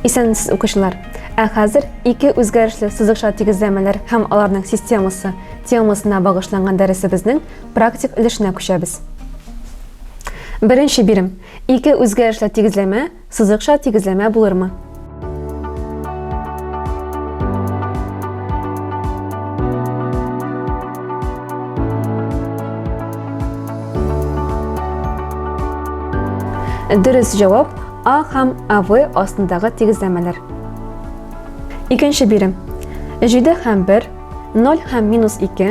Исәнмесез, укучылар! Ә хәзер ике үзгәрешле сызыкча тигезләмәләр һәм аларның системасы темасына багышланган дәресебезнең практик өлешенә күчәбез. Беренче бирем. Ике үзгәрешле тигезләмә Сызыкча тигезләмә булырмы? Дөрес җавап А һәм АВ астындагы тигезләмәләр. Икенче бирем. Җиде һәм бер, ноль һәм минус ике,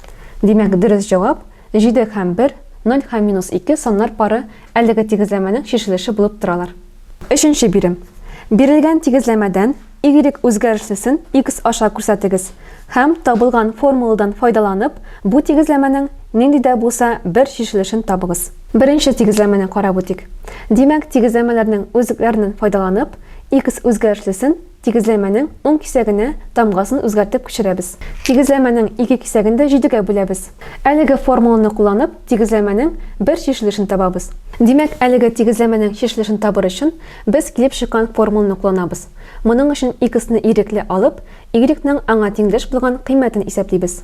Димәк, дөрес җавап, җиде һәм бер, ноль һәм минус ике саннар пары әлеге тигезләмәнең чишелеше булып торалар. Өченче бирем. Бирелгән тигезләмәдән y үзгәрешлесен икс аша күрсәтегез һәм, табылган формуладан файдаланып, бу тигезләмәнең нинди дә булса бер чишелешен табыгыз. Беренче тигезләмәне карап үтик. Димәк, тигезләмәләрнең үзлекләреннән файдаланып, икс үзгәрешлесен, Тигезләмәнең уң кисәгенә тамгасын үзгәртеп күчерәбез. Тигезләмәнең ике кисәген дә җидегә бүләбез. Әлеге формуланы кулланып, тигезләмәнең бер чишелешен табабыз. Димәк, әлеге тигезләмәнең чишелешен табыр өчен, без килеп чыккан формуланы кулланабыз. Моның өчен x-ны ирекле алып, y-ның аңа тиңдәш булган кыйммәтен исәплибез.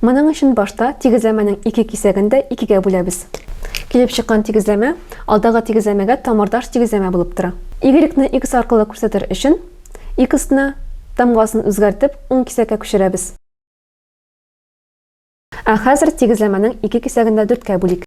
Моның өчен башта тигезләмәнең ике кисәген дә икегә бүләбез. Килеп чыккан тигезләмә алдагы тигезләмәгә тамырдаш тигезләмә булып тора. Y-ны X аркылы күрсәтер өчен, X-ны, тамгасын үзгәртеп, уң кисәккә күчерәбез. Ә хәзер тигезләмәнең ике кисәген дә дүрткә бүлик.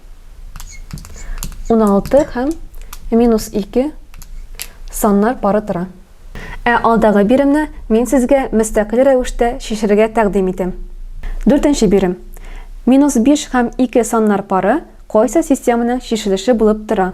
16 һәм минус 2 саннар пары тора. Ә алдагы биремне мин сезгә мөстәкыйль рәвештә чишерергә тәкъдим итәм. Дүртенче бирем. Минус 5 һәм 2 саннар пары кайсы системаның чишелеше булып тора?